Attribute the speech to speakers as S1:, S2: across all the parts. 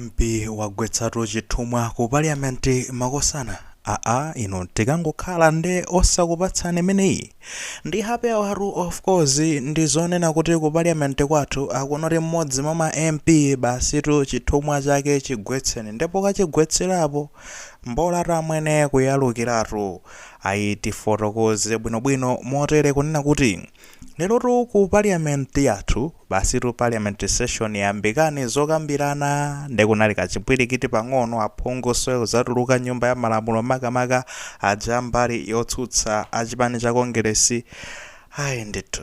S1: Mp wagwetsatu chithumwa ku parliament makosana aa inu tikangokhala nde osakupatsani imeneyi ndi happy hour of course ndi zonena kuti ku parliament kwathu akunoti mmodzi mwa ma mp basitu chithumwa chake chigwetseni nde pokachigwetserapo mbolatu amwene kuyalukiratu ayi tifotokoze bwinobwino motere kunena kuti Lerotu ku parliament yathu basitu parliament session yambikani zokambirana nde kunali kachipwirikiti pang'ono aphungu osazatuluka nyumba ya malamulo makamaka aja a mbali yotsutsa a chipani cha Kongeresi ayi ndithu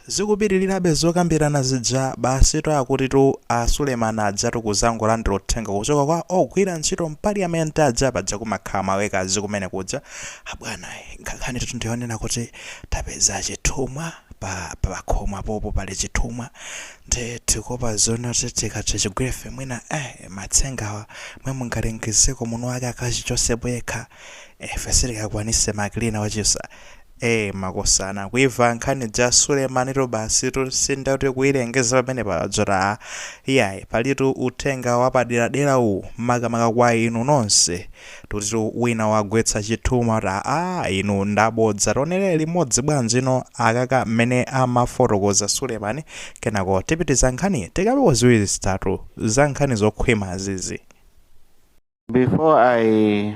S1: zikupitirirabe zokambirana zija basitu akutitu a Suleman ajatu kuzangolandira uthenga kuchoka kwa ogwira ntchito mparliament aja paja kumakhala ma worker kumene kuja abwana nkhanitu ndiyonena kuti tapeza chithumwa pa pakhomo apopo pali chithumwa nde tikuopa zonati tikati tichigwire ife mwina eh matsengawa mwe mungalengezeko mwini wake akachichosepo yekha ife sitikakwanise ma cleaner achisa eh makosana kuimva nkhani ija Sulemanitu basitu sinde kuti kuilengeza pamenepa adzati ah iyayi palitu uthenga wapaderadera uwu makamaka kwa inu nonse Akutitu wina wagwetsa chithumwa kuti aa inu ndabodza tionere limodzi bwanji no akaka mmene amafotokoza Suleman kenako tipitiza nkhani tikambepo ziwiri zitatu za nkhani zokhwima zizi. Before I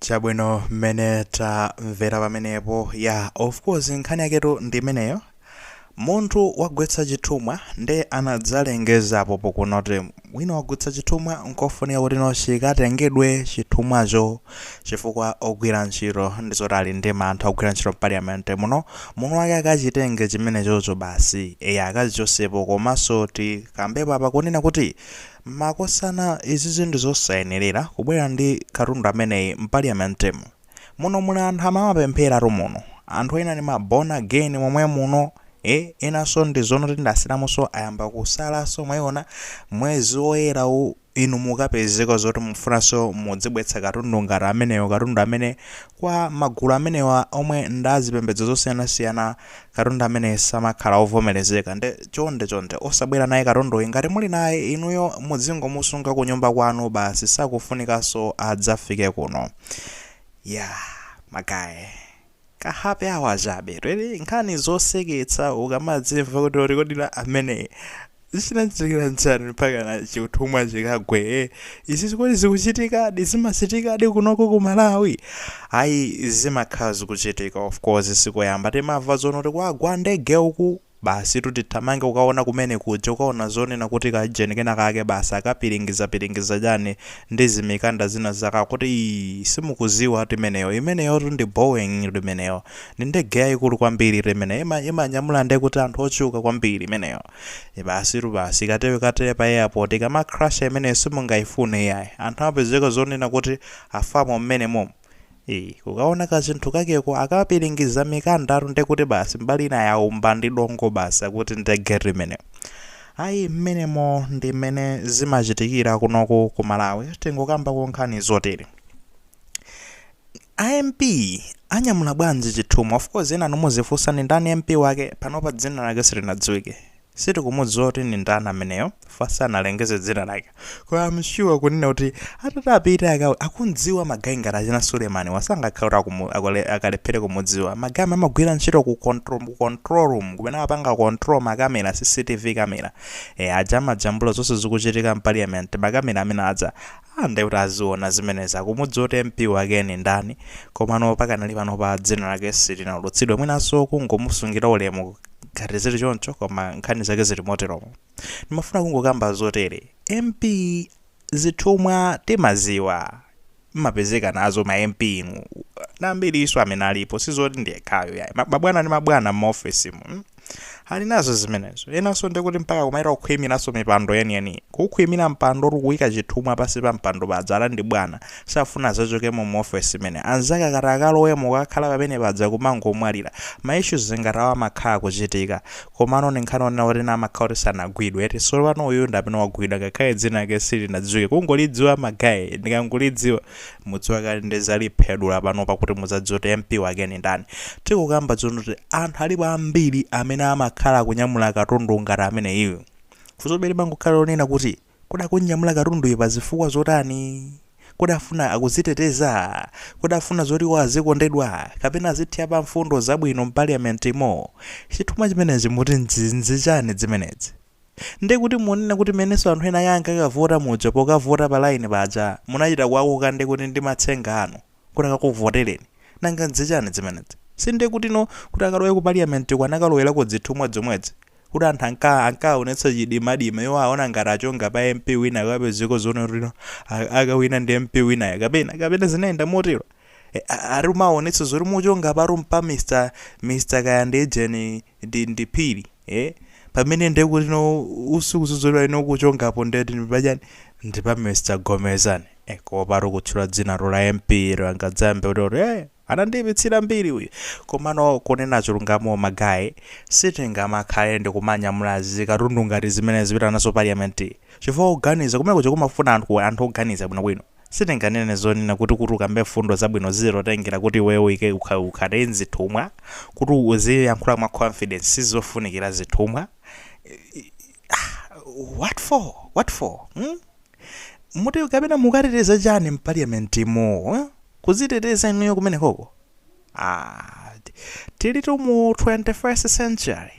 S1: Chabwino mmene tamvera pamenepo ya of course nkhani yaketu ndi imeneyo munthu wagwetsa chithumwa nde anadzalengeza apopo kunoti wina wagwetsa chithumwa nkofunika kuti no chikatengedwe chithumwacho chifukwa ogwira ntchito ndi zoti ali ndi mantha ogwira ntchito mpaliyamenti muno mwini wake akachitenge chimenechocho basi eya akachichosepo komanso tikambepo apa kunena kuti Makosana izizi ndizosayenerera kubwera ndi katundu ameneyi mpaliamentemu. Muno muli anthu amapempheratu muno. Anthu ena ndi ma born again momwemuno eeh enanso ndi zonoti ndi asilamunso ayamba kusalanso mwayiona mwezi woyera uwu inu mukapezeka zoti mufunanso mudzibweretsa katundu ngati ameneyo katundu amene kwa magulu amenewa omwe ndi azipembedzo zosiyanasiyana katundu amene samakhala ovomerezeka nde chonde chonde osabwera naye katunduyi ngati muli naye inuyo mudzingomusunga kunyumba kwanu basi sakufunikanso adzafike kuno yeah magaye ka happy hour chabe really nkhani zoseketsa ukamadzimva kuti oti kodi la ameneyi Zinachitikira nchani mpakana chithumwa chikagwe eh? Izi kodi zikuchitikadi? Zimachitikadi kunoko ku Malawi? Ayi zimakhala zikuchitika of course sikoyamba timamva zoona kuti kwagwa ndege uku basi tutithamange kukaona kumene kuja kukaona zonena kuti ka jeni kena kake basi akapiringizapiringiza chani ndi zimikanda zina zaka kuti ii simukuziwa timeneyo imeneyotu ndi boeing limeneyo Ni ndege yaikulu kwambili tu imeneyo imanyamula nde kuti anthu ochuluka kwambili imeneyo. E basi tu basi ikati ikatele pa airport ikama crasha imeneyo simungaifune iyayi. Anthu amapezeka zonena kuti afamo mmene momo. Ee kukaona kachinthu kakeko akapilingiza mikanda tu nde kuti basi mbali ina yaumba ndi dongo basi akuti ndege tu imeneyo. Ayi mmenemo ndi mmene zimachitikira kunoku ku Malawi tingokambako nkhani zotele. a mp anyamula bwanji chithumwa of course enanu muzifunsa ndi ndani mp wake panopa dzina lake silinadziwike sitikumudziwa kuti ndi ndani ameneyo fa sanalengeze dzina lake koma am sure kunena kuti atati apite akawone akumdziwa magayi ngati achina sulemani wasangakhala kuti akumu- akole- akalephere kumudziwa magayi amene amagwira ntchito ku control, mu control room kumene amapanga control makamera cctv kamera e, aja amajambula zonse zikuchitika mpaliyamenti makamera amene adza Aaa nde kuti aziona zimenezi akumudziwa kuti MP wake ndi ndani komano pakanali panopa dzina lake silinaulutsidwe mwinanso kungomusungira ulemu ngati zili choncho koma nkhani zake zili moteromo ndimafuna kungokamba zotere MP zithumwa timaziwa mmapezeka nazo ma MP inu ndi ambirinso amene alipo sizoti ndi yekhayo yayi mabwana ndi mabwana mma office mu mm. ali nazo zimenezo enanso ndikuti mpaka kumaita kukhwimiranso mipando yeniyeniyi kukhwimira mpando oti kuyika chithumwa pansi pa mpando paja ali ndi bwana safuna azachokemo mu ofesi imene anzake atakalowemo akakhala pamene paja kumangomwalira ma issues ngati awa amakhala akuchitika komano ndi nkhani onena kuti ena amakhala kuti sanagwidwe eti solo pano uyu ndi amene wagwidwa ngakhale dzina lake silinadziwike kungolidziwa magayi ndikangolidziwa mudziwa kale ndizaliphedula panopa kuti muzadziwe kuti mp wake ni ndani tikukamba tsono kuti anthu alipo ambiri amene amakhala akunyamula katundu ngati ameneyu funsobe limangokhala lonena kuti kodi akunyamula katunduyu pa zifukwa zotani kodi afuna akuziteteza kodi afuna zoti iwo azikondedwa kapena azithya pa mfundo zabwino mpaliyamenti imo chithumwa chimenechi muti nzinzi chani zimenezi Nde kuti munena kuti menenso anthu ena ake ankakavota muja pokavota pa line paja munachita kuwakoka nde kuti ndi matsenga anu kuti akakuvotereni? Nanga nzinzi chani dzimenedzi? Si nde kutino kuti akalowe ku parliament ko anakalowela ku dzithumwa dzomwedzi? Kuti anthu anka ankaonetsa chidimadima iwo aona ngati achonga pa MP wina akapezeko zoona kutino a akawina ndi MP winayo kapena kapena zinayenda motero? E, a, ati umaonetsa zoti muchonga apatu mpa Mr Mr kaya ndi ijeni ndi ndi phiri eh pamene nde kuti no usukuzuzulwa ino kuchongapo ndati ndi pachani ndi pa Mr Gomezan eh kopa kutchula dzina lo la MP-yo angadzambe kuti ori eh anandipitsira mbiri uyu komano kunena chilungamo magaye sitingamakhale ndi kumanyamula zikatundu ngati zimene nkupita nazo parliament chifukwa kuganiza kumene kuja kumafuna anthu anthu oganiza bwinobwino Sitinganene zoona kuti kuti ukambe mfundo zabwino zilotengera kuti iweyo uike ukha- ukhale mzithumwa, kuti uziyankhula mwa confidence zizifunikira zithumwa. Ah, what for? What for? Hmm? Muti kapena mukateteza chani m'parliament'mo? Huh? Kuziteteza inuyo kumenekoko? Aaah tilitu mu 21st century.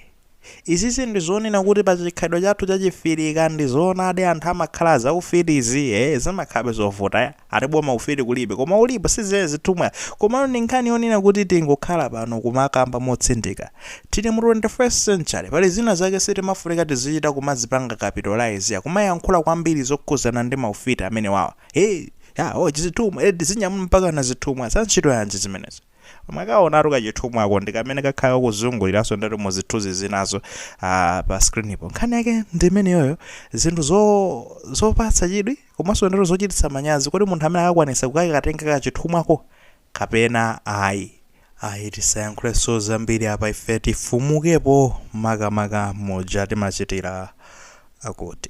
S1: Izizi ndi zonena kuti pa chikhalidwe chathu cha chifirika ndizoonadi anthu amakhala a zaufiti izi ee zimakhalabe zovuta ya ati boma ufiti kulibe koma ulipo si izi zithumwa komano ndi nkhani yonena kuti tingokhala pano kumakamba motsindika tili mu 21st century pali zina zake sitimafunika tizichita kumazipanga capitalize kumayankhula kwambiri zokhudzana ndi maufiti amenewawa hey, ya oh, chizithumwa eh, tizinyamula mpakana zithumwa za ntchito yanji zimenezo mwakaonatu kachithumwako ndi kamene kakhala kakuzunguliranso ndati mu zithunzi zinazo ah, pa screenipo nkhani yake ndi imeneyoyo zinthu zo- zopatsa chidwi komanso ndati zochititsa manyazi kodi munthu amene akakwanisa kukakatenga kachithumwako kapena ayi ayi tisayankhulenso zambiri apa ife tifumukepo makamaka muja timachitira akuti